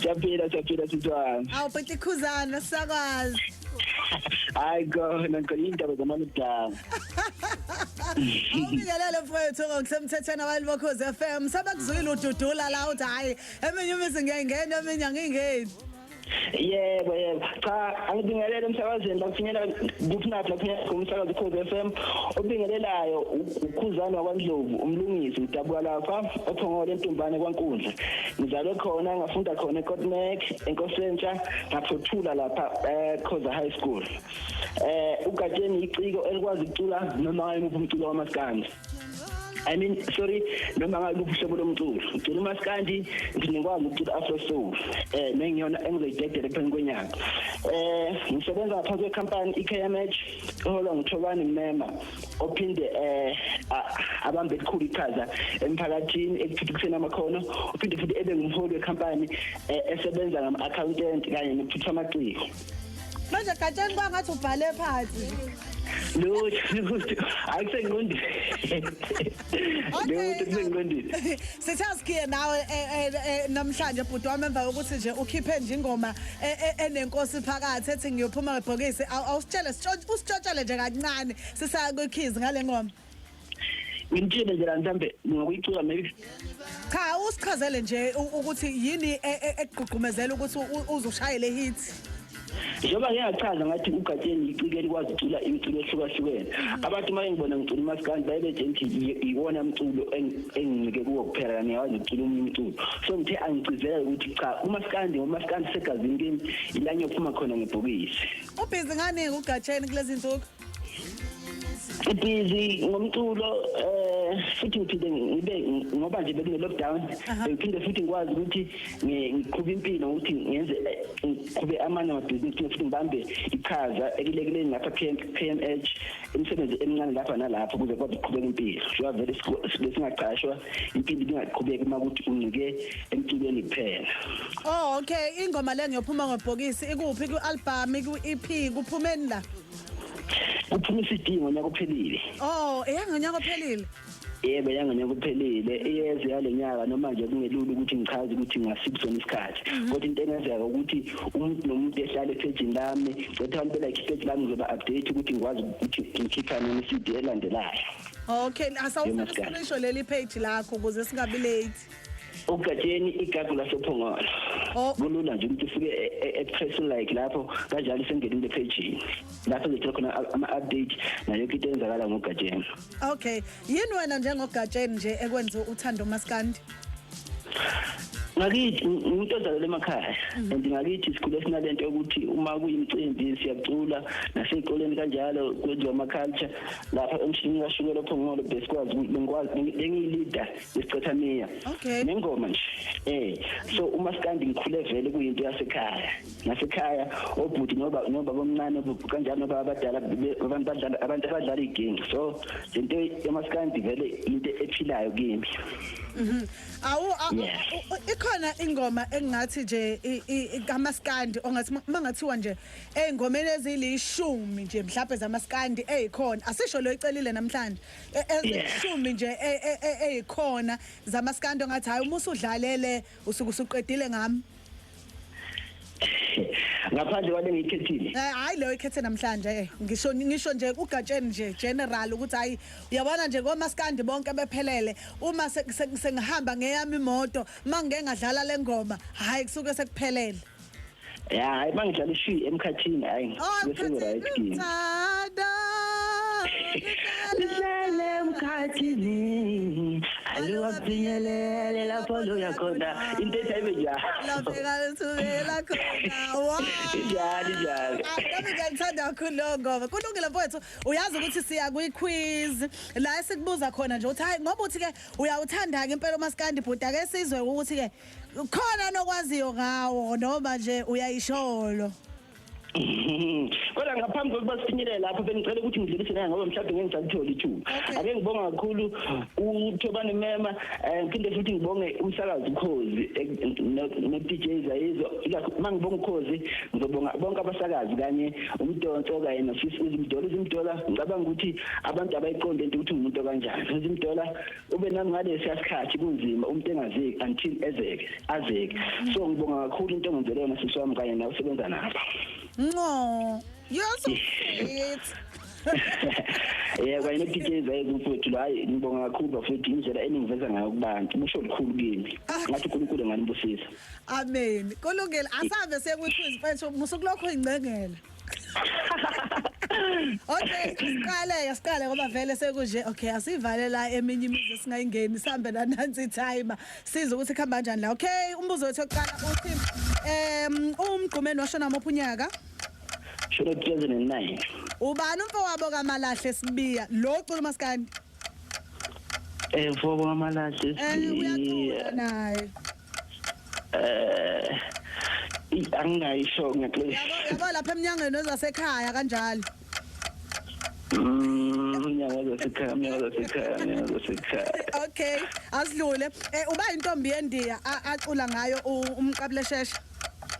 Siyaphila siyaphila sithwana. Awu bhuti khuzana sakwazi. Hayi khona ngicela indaba zamana kudala. Awubingelele mfowethu ngokusemthethweni abantu bokhoze FM sebekuzwile ududula la uthi hayi eminye imizi ngiyayingena eminye angingeni. Yebo yebo. Cha angibingelele emsakazweni bakufinyela kuphinathi lapha kumsakazo ukhoze FM. Obingelelayo ukhuzana wakwaNdlovu umlungisi udabuka lapha ophongole entumbane kwaNkundla. ngizalwe khona ngafunda khona eKotnek enkosentsha ngaphothula lapha eKhoza eh, High School eh ugatsheni iciko elikwazi ukucula noma yimuphi umculo wamaskandi I mean sorry noma ngabe uhlobo lomculo ngicula umaskandi ngingikwazi ukucula afro soul eh mengiyona engizoyidedela phambi kwenyanga eh ngisebenza ngaphansi kwecompany iKMH eholwa nguThobani Mema ophinde eh abambe elikhulu iqhaza emphakathini ekuthuthukiseni amakhono uphinde futhi ebe ngumholi wekhampani eh, esebenza ngama-accountant kanye nokuthutha amaciko manje gatsheni kwangathi ubhale phansi lutho lutho akusengqondini lutho kusengqondini Sithe asikhiye nawe eh, eh, eh, namhlanje bhuti wami emva kokuthi nje ukhiphe nje ingoma enenkosi phakathi ethi ngiyophuma ngebhokisi awusitshele usitshotshele nje kancane sisaya kwikhizi ngale ngoma ngimtshele nje la mhlambe ngokuyicula maybe cha usichazele nje ukuthi yini e, e, ekugqugqumezela ukuthi uzoshayele hit njengoba ngeke ngachaza ngathi ugatsheni yiciko elikwazi ucula imculo ehlukahlukene mm. abantu uma engibona ngicula umaskandi baye bethe ngithi iwona mculo engincike kuwo kuphela kani yawazi ukucula omunye umculo so ngithe angicizela ukuthi cha umaskandi ngomaskandi segazini kimi ilanye ophuma khona ngebhokisi ubhizi ngani ugatsheni kulezi nsuku busy ngomculo eh futhi ngiphinde ngibe ngoba nje bekune lockdown ngiphinde futhi ngikwazi ukuthi ngiqhube impilo ukuthi ngenze eh, ngiqhube amanye amabhizinisi futhi ngibambe ichaza ekulekeleni lapha PMH imisebenzi emincane lapha nalapho kuze kwabe kuqhubeka impilo shuwa vele sibe singaqashwa impilo ingaqhubeki uma ukuthi uncike emculweni kuphela oh okay ingoma le ngiyophuma ngobhokisi ikuphi ku-album ku-EP kuphumeni la kuphuma iCD ngonyaka ophelile oh eyangonyaka ophelile yebo yangonyaka ophelile iyeze yalenyaka noma nje kungelula ukuthi ngichaze ukuthi ngasiphi sona isikhathi mhm. kodwa into engenzeka ukuthi umuntu nomuntu ehlale ephejini lami cetha abantu belike iphejini lami ngizoba update ukuthi ngikwazi ukuthi ngikhipha nini iCD elandelayo okay asawufuna silisho leli page lakho ukuze singabi late ugatsheni igagu lasophongolo oh. kulula nje ukuthi ufike e, e, express like lapho kanjalo sengena into page lapho ngithola khona ama update nayo yonke into eyenzakala ngogatsheni okay yini wena njengogatsheni nje ekwenza uthando maskandi ngakithi umuntu ozalele emakhaya mm. and ngakithi sikhule sinalento yokuthi uma kuyimcimbi siyacula nasey'koleni kanjalo kwenziwa ama-culture lapha emshinini kashukela ophongolo besikwazi bengiyilida isicotha miya okay nengoma nje eh so uma sikandi ngikhule vele kuyinto yasekhaya nasekhaya obhuti noba noba bomncane kanjalo noba abadala abantu badlala abantu abadlala igame so lento yamaskandi vele into ephilayo kimi mhm awu ikhona ingoma engathi nje kamaskandi ongathi mangathiwa nje ezingomeni ezilishumi nje mhlawumbe zamaskandi ezikhona asisho lo icelile namhlanje e- ezishumi nje e- e- e- eyikhona zamaskando ngathi hayi uma usudlalele usuke usuqedile ngami ngaphandle kwale ngiyikhethile Eh, hayi leyo ikhethe namhlanje eh, ngisho ngisho nje ugatsheni nje general ukuthi hayi uyabona nje komaskandi bonke bephelele uma se- se- sengihamba ngeyami imoto mangike ngadlala lengoma hayi kusuke sekuphelele ya hayi mangidlala ishwi emkhathini hayi bese right kimi Thanda. Lihlele emkhathini aluwaphinyelele lapho loya khona into ethi ayibe njalo Lafika lithubela khona. Wow. Injalo, injalo. Ah, Nami ngiyakuthanda kakhulu lowo ngoma. Kulungile mfowethu, uyazi ukuthi siya kwi-quiz la esikubuza khona nje ukuthi hayi ngoba uthi-ke uyawuthanda-ke impela umaskandi bhuti ake sizwe ukuthi-ke khona nokwaziyo ngawo noma nje uyayisholo kodwa ngaphambi kokuba sifinyelele lapho bengicela ukuthi ngidlulise naye ngoba mhlawumbe ngeke ngisakutholi ithuba ake ngibonga kakhulu uthobane mema eh, ngiphinde futhi ngibonge umsakazi ukhozi eh, no-dj zayizo uma ngibonga ukhozi ngizobonga bonke abasakazi kanye umdonso kanye nofisi uzimdola uzimdola ngicabanga ukuthi abantu abayiqonde into ukuthi umuntu okanjani uzimdola ube nami ngalesiya sikhathi kunzima umuntu engazeki until ezeke azeke so ngibonga kakhulu into engenzele yona sisi wami kanye nawe usebenza nabo nqo you're so sweet yeah kanye ne-dj zaye kumfowethu lo hayi ngibonga kakhulu bafowethu indlela eningiveza ngayo kubantu kusho lukhulu kimi ngathi unkulunkulu enganibusisa amen kulungile asambe sekuthi izimfethu musukulokho ingcengela Okay, siqale siqale ngoba vele sekunje. Okay, asivale la eminye imizi singayingeni sihambe la nansi timer. Siza ukuthi khamba kanjani la. Okay, umbuzo wethu oqala uthi em umgqumeni washona ngomuphi unyaka? Shona 2009. Ubani umfowabo kaMalahle Sibiya? Lo cula maskandi. Eh mfobo kamalahle Eh sibiya. uyacula naye. eh angingayisho ngeqiniso yabo lapha eminyangweni wezasekhaya kanjalo okay asidlule um uba intombi yendiya acula ngayo umqabuleshesha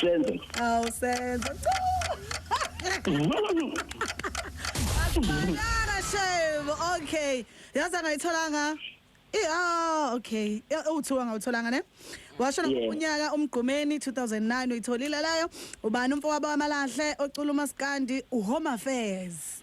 Senzo. Awu Senzo. Akubonanga shame. Okay. Yazi angayitholanga. Eh ah okay. Uthiwa ngawutholanga ne? Washo unyaka umgqumeni 2009 uyitholile layo. Ubani umfowabo wamalahle ocula umaskandi uHome Affairs.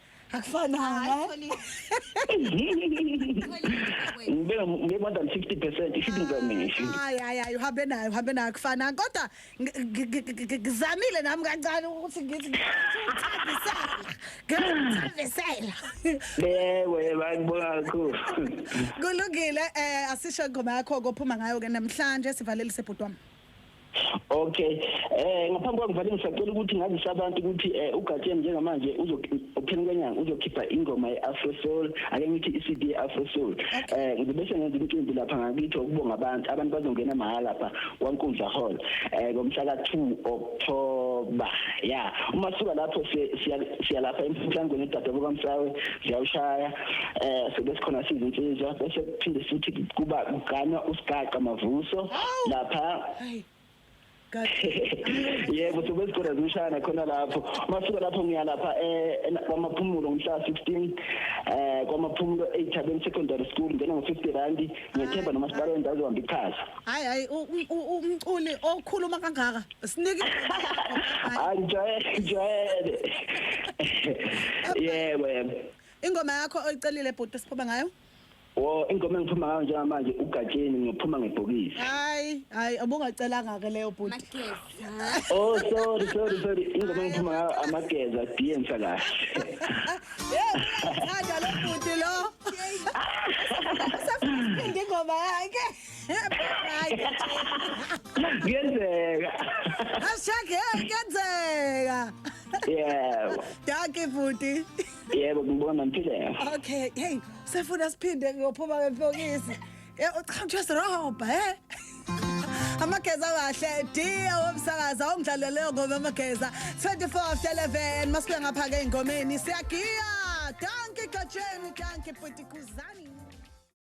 akufananga ngibe ngibe more than 50 percent ishibiza mina ishibiza hayi hayi hayi uhambe nayo uhambe nayo akufananga kodwa ngi- ngi- ngi- ngi- ngi- ngizamile nami kancane ukuthi ngithi ngiyakuthandisela ngiyakuthandisela bewe bayibona kakhulu kulungile um asisho ingoma yakho kophuma ngayo-ke namhlanje sivalelise bhuti wami Okay. Eh ngaphambi kokuvala ngisacela ukuthi ngazise abantu ukuthi eh uGatsheni njengamanje uzophenduka kanyanga uzokhipha ingoma yeAfro Soul ake ngithi iCD Afro Soul. Eh ngibese ngenza umcimbi lapha ngakithi ukubonga abantu abantu bazongena mahala lapha kwaNkundla Hall eh ngomhla ka2 October. Yeah. Uma suka lapho siya siya lapha emhlangweni edada kukaMsawe siyawushaya eh so bese khona siza insizwa bese kuphinde futhi kuba kuganwa usigaqa mavuso lapha yebo so bese khona zishana khona lapho masuka lapho ngiya lapha eh kwamaphumulo ngomhla 16 eh kwamaphumulo eThabeni Secondary School ngena ngo 50 rand ngethemba noma sibalo endawo zohamba ichaza hayi hayi umculi okhuluma kangaka sinike hayi jayele jayele yebo yebo Ingoma yakho oyicelile bhuti siphuma ngayo? Wo ingoma engiphuma ngayo njengamanje ugatsheni ngiyophuma ngebhokisi. Hayi, hayi ubungacelanga ke leyo bhuti. Mageza. Oh sorry sorry sorry ingoma engiphuma ngayo amageza diensa kahle. Hey, uyathanda lo bhuti lo. Usafuna ingoma yakhe. Hayi. Kuyenzeka. Hashtag hey, kenzeka. Yeah. Dankie bhuti. Yebo ngibona ngiphile. Okay, hey, sefuna siphinde kuyophuma ngempokisi. Eh uchamthwe sirobha, eh? amageza kahle dia womsakaza ongidlale leyo ngoma amageza 24 after 11 masibuya ngapha ke ingomeni siyagiya danki gatsheni danki bhuti kuzani